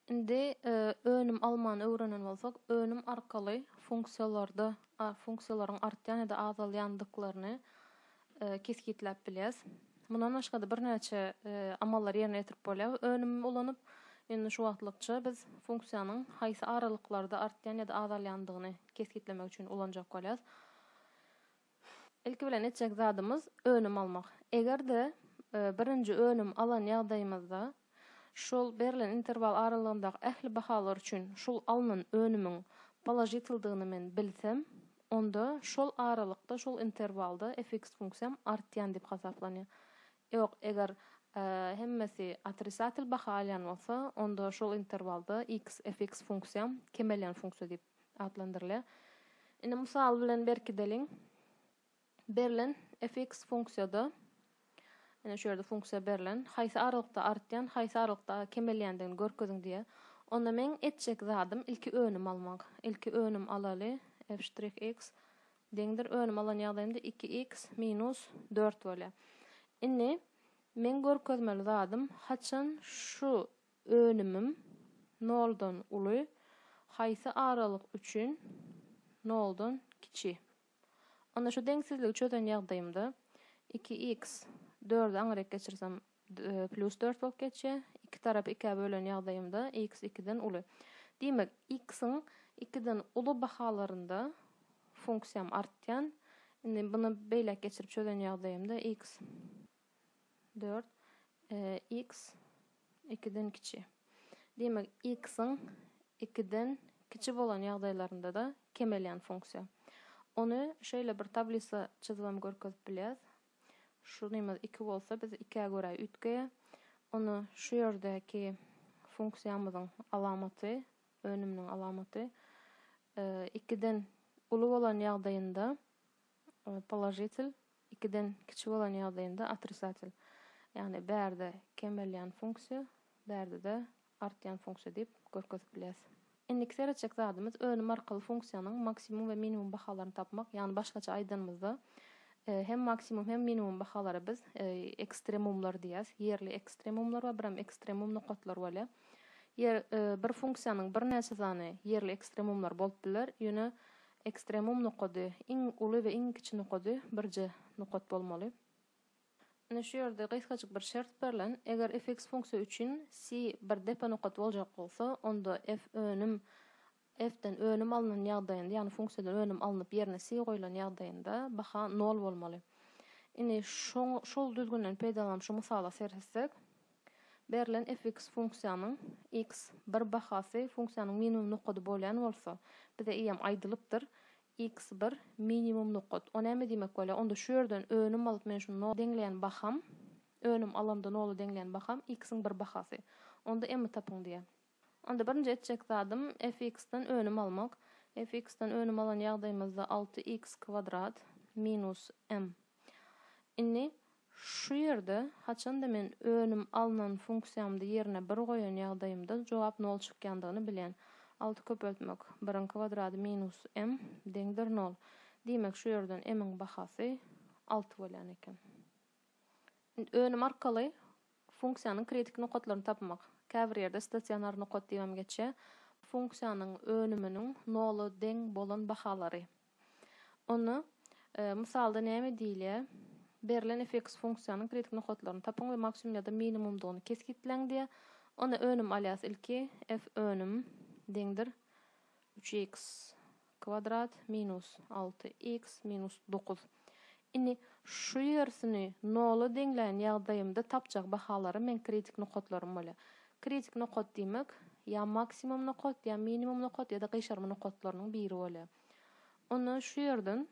Indi önüm almany öwrenen bolsak, önüm arkaly funksiýalarda funksiýalaryň artýan ýa-da azalýandyklaryny kesgitläp bilýäs. Mundan başga-da birnäçe amallary ýerine ýetirip bolýar önümi ulanyp. Indi şu wagtlykça biz funksiýanyň haýsy aralyklarda artýan ýa-da azalýandygyny kesgitlemek üçin ulanjak bolýarys. Ilki bilen etjek zadymyz önüm almak. Eger-de birinji önüm alan ýagdaýymyzda şol berlen interwal aralygyndaky ähli bahalar üçin şol alnan önümiň položitldygyny men bilsem, onda şol aralykda, şol interwalda fx funksiýam artýan diýip hasaplanýar. Ýok, eger hemmesi otrisatel baha alýan bolsa, onda şol interwalda x fx funksiýam kemelýän funksiýa diýip atlandyrylýar. Indi mysal bilen berkideliň. Berlen fx funksiýada, ine şu ýerde funksiýa berlen, haýsy aralykda artýan, haýsy aralykda kemelýändigini görkeziň diýýär. Onda meň etjek zadym ilki önüm almak. Ilki önüm alaly, f'x deňdir, önüm alan ýagdaýymda iki x minus dört bolýar. Indi meň görkezmeli zadym haçan şu Önümim noldan uly, haýsy aralyk üçin noldan kiçi? Onda şu deňsizligi çözen ýagdaýymda iki iks dördi aňyrýk geçirsem plýus dört bolup geçýär, iki tarapy ikä bölen ýagdaýymda iks ikiden uly. Diýmek, iksiň ikiden uly bahalarynda funksiýam artýan. Indi muny beýläk geçirip çözen ýagdaýymda iks dört x ikiden kiçi. Diýmek, x-iň ikiden kiçi bolan ýagdaýlarynda-da kemelýän funksiýa. Ony şeýle bir tablisa çyzybam görkezip bilýäris. Şunymyz iki bolsa, biz ikä görä üýtgeýär. Ony şu ýerdäki funksiýamyzyň alamaty, önüminiň alamaty ikiden uly bolan ýagdaýynda Položitel, ikiden kiçi bolan ýagdaýynda otrisatel, ýagny bärde kemelýän funksiýa, bärde-de artýan funksiýa diýip görkezip bilýäris. Indiki seretjek zadymyz önüm arkaly funksiýanyň maksimum we minimum bahalaryny tapmak, ýagny başgaça aýdanymyzda hem maksimum hem minimum bahalara biz ekstremumlar diýýäris, ýerli ekstremumlar we birem ekstremum nokatlar bolýar. Ýer bir funksiýanyň birnäçe sany ýerli ekstremumlary bolup biler, ýöne Ekstremum nokady, iň uly we iň kiçi nokady birje nokat bolmaly. Ine şu ýerde gysgajyk bir şert berlen, eger fx funksiýa üçin C bir depe nokat boljak bolsa, onda f önüm fden önüm alnan ýagdaýynda, ýagny funksiýadan önüm alnyp ýerine C goýlan ýagdaýynda baha nol bolmaly. Ine şoň şol düzgünden peýdalanyp şu mysala seretsek, Berlen fx funksiýanyň x bir bahasy funksiýanyň minimum nokady bolýan bolsa, bize eýýäm aýdylypdyr, x bir minimum nokat. O näme diýmek bolýar? Onda şu ýerden önüm alyp men şuny nola deňleýän baham, önüm alamda nola deňleýän baham x-iň bir bahasy. Onda m-i tapyň diýýär. Onda birinji etjek zadym fx-den önüm almak. Fx-den önüm alan ýagdaýymyzda alty x kwadrat minus m. Indi şu ýerde haçanda men önüm alnan funksiýamdy ýerine bir goýan ýagdaýymda jogap nol çykýandygyny bilýän. Alty köpeltmek biriň kwadrady minus m deňdir nol. Diýmek şu ýerden m-iň bahasy alty bolýan eken. Indi önüm arkaly Funksiýanyň kritik nokatlaryny tapmak. Käbir ýerde stasionar nokat diýibem geçýär. Funksiýanyň önüminiň nola deň bolan bahalary. Ony Mysalda näme diýilýär? Berlen fx funksiýanyň kritik nokatlaryny tapyň we maksimum ýa-da minimumdygyny kesgitläň diýýär. Onda önüm alýas ilki, fönüm, deňdir, üç x. Kwadrat minus alty iks minus dokuz. Indi şu ýersini nola deňlän ýagdaýymda tapjak bahalarym meň kritik nokatlarym bolýar. Kritik nokat diýmek, ýa maksimum nokat, ýa minimum nokat ýa-da gyşarma nokatlarynyň biri bolýar. Onda şu ýerden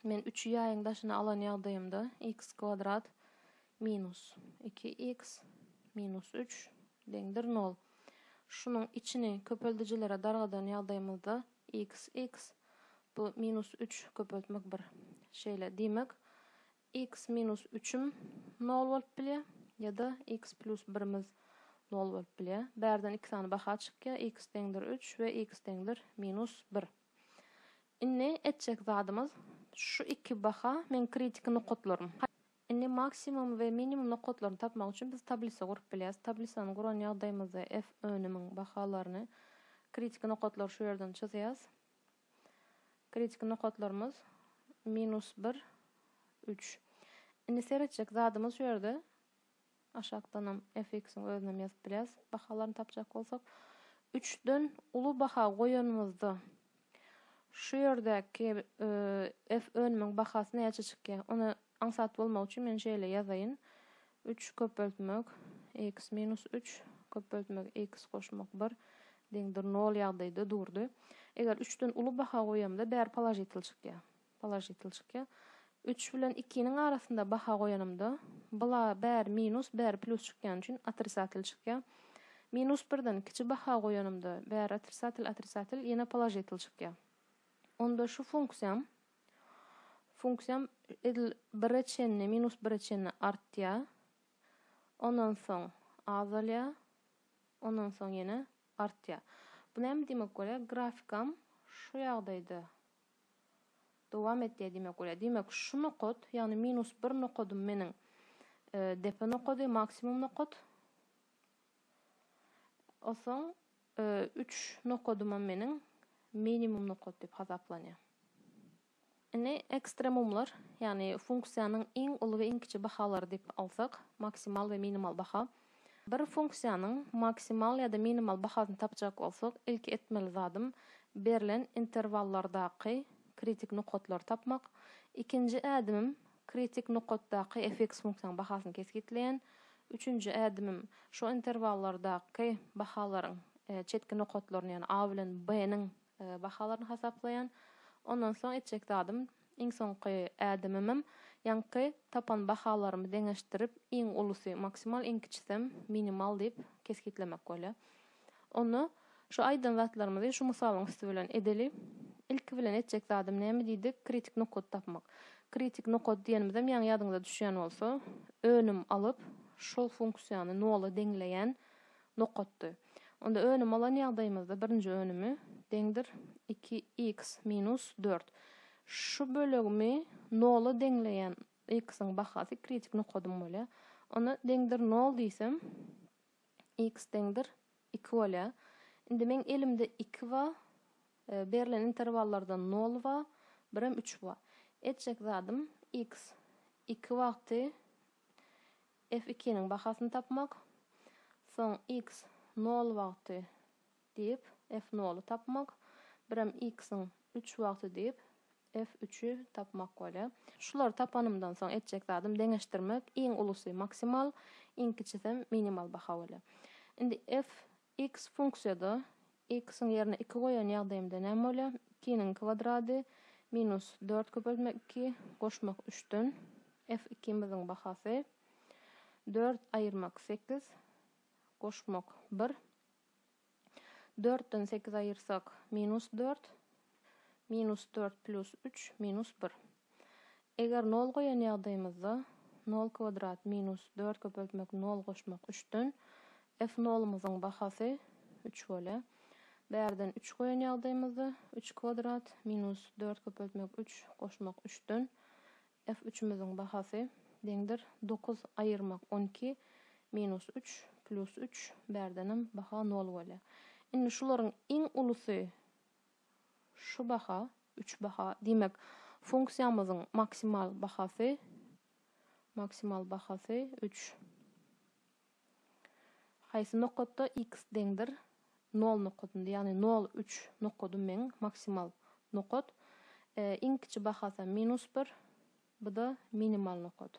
Men üçi ýaýyň daşyna alan ýagdaýymda x kwadrat minus iki x minus üç deňdir nol. Şunuň içini köpeldijilere dargadan ýagdaýymyzda x x bu minus üç köpeltmek bir şeýle. Diýmek, x minus üçüm nol bolup bilýär ýa-da x plýus birimiz nol bolup bilýär. Bärden iki sany baha çykýar, x deňdir üç we x deňdir minus bir. Indi etjek zadymyz şu iki baha meň kritiki nokatlarym. Indi maksimum we minimum nokatlaryny tapmak üçin biz tablisa gurup bilýäris. Tablisany guran ýagdaýymyzda F önümiň bahalaryny kritiki nokatlary şu ýerden çyzýas. Kritiki nokatlarymyz minus bir, üç. Indi seretjek zadymyz şu ýerde Aşakdanam FX-iň özünem ýazyp bilýäs. Bahalaryny tapjak bolsak, üçden uly baha goýanymyzda şu ýerdäki F önümiň bahasy näçe çykýar? Ony aňsat bolmak üçin men şeýle ýazaýyn, üç köpeltmek X minus üç köpeltmek X goşmak bir deňdir nol ýagdaýda durdy. Eger üçden uly baha goýamda bäri položitel çykýar. Položitel çykýar. Üç bilen ikiniň arasynda baha goýanymda, bula bäri minus, bäri plus çykýany üçin otrisatel çykýar. Minus birden kiçi baha goýanymda, bäri otrisatel, otrisatel, ýene položitel çykýar. Onda şu funksiýam, funksiýam edil bire çenli, minus bire çenli artýar. Ondan soň azalýar. Ondan soň ýene artýar. Bu näme diýmek bolýar? Grafikam şu ýagdaýda Dowam et diýýär diýmek bolýar. Diýmek, şu nokat, ýagny minus bir nokadym meniň depe nokady, maksimum nokat. Osoň üç nokadymam meniň minimum nokat diýip hasaplanýar. Indi ekstremumlar, ýagny funksiýanyň iň uly we iň kiçi bahalary diýip alsak, maksimal we minimal baha. Bir funksiýanyň maksimal ýa-da minimal bahasyny tapjak bolsak, ilki etmeli zadym berlen interwallardaky kritik nokatlary tapmak. Ikinji ädimim kritik nokatdaky fx funksiýanyň bahasyny kesgitleýän. Üçünji ädimim şo interwallardaky bahalaryň çetki nokatlaryny, ýagny a bilen b-niň bahalaryny hasaplaýan. Ondan soň etjek zadym, iň soňky ädimimem ýaňky tapan bahalarymy deňeşdirip, iň ulusy maksimal, iň kiçisem minimal diýip kesgitlemek bolýar. Onda şu aýdan zatlarymyzy şu mysalyň üsti bilen edeli. Ilki bilen etjek zadym näme diýdik, kritik nokady tapmak. Kritik nokady diýenimizem ýaňy ýadyňyza düşýän bolsa, önüm alyp, şol funksiýany nola deňleýän nokatdy. Onda önüm alan ýagdaýymyzda birinji önümi, deňdir, iki iks minus dört. Şu bölegimi nola deňleýän iksiň bahasy kritik nokadym bolýar. Onda deňdir nol diýsem, iks deňdir iki bolýar. Indi meň elimde iki bar, berlen interwallardan nol bar, bir hem üç bar. Etjek zadym iks iki wagty F ikiniň bahasyny tapmak. Soň X nol wagty diýip, F noly tapmak. Birem X-iň üç wagty diýip, F üçi tapmak bolýar. Şulary tapanymdan soň etjek zadym deňeşdirmek. Iň ulusy maksimal, iň kiçisem minimal baha bolýar. Indi F X funksiýada x-iň ýerine iki goýan ýagdaýymda näme bolýar? Ikiniň kwadrady minus dört köpeltmek iki goşmak üçden f ikimiziň bahasy dört aýyrmak sekiz goşmak bir. Dörtden sekiz aýyrsak minus dört. Minus dört plus üç minus bir. Eger nol goýan ýagdaýymyzda, nol kwadrat minus dört köpeltmek nol goşmak üçden, f nolumyzyň bahasy üç bolýar. Bärden üç goýan ýagdaýymyzda, üç kwadrat minus dört köpeltmek üç goşmak üçden, f üçümiziň bahasy deňdir dokuz aýyrmak on iki minus üç plus üç, bärdenem baha nol bolýar. Indi şularyň iň ulusy Şu baha, üç baha, diýmek, funksiýamyzyň maksimal bahasy, maksimal bahasy üç. Haýsy nokatda x deňdir? Nol nokatynda, ýagny nol, üç nokady meň maksimal nokat. E, iň kiçi bahasam minus bir, bu-da minimal nokat.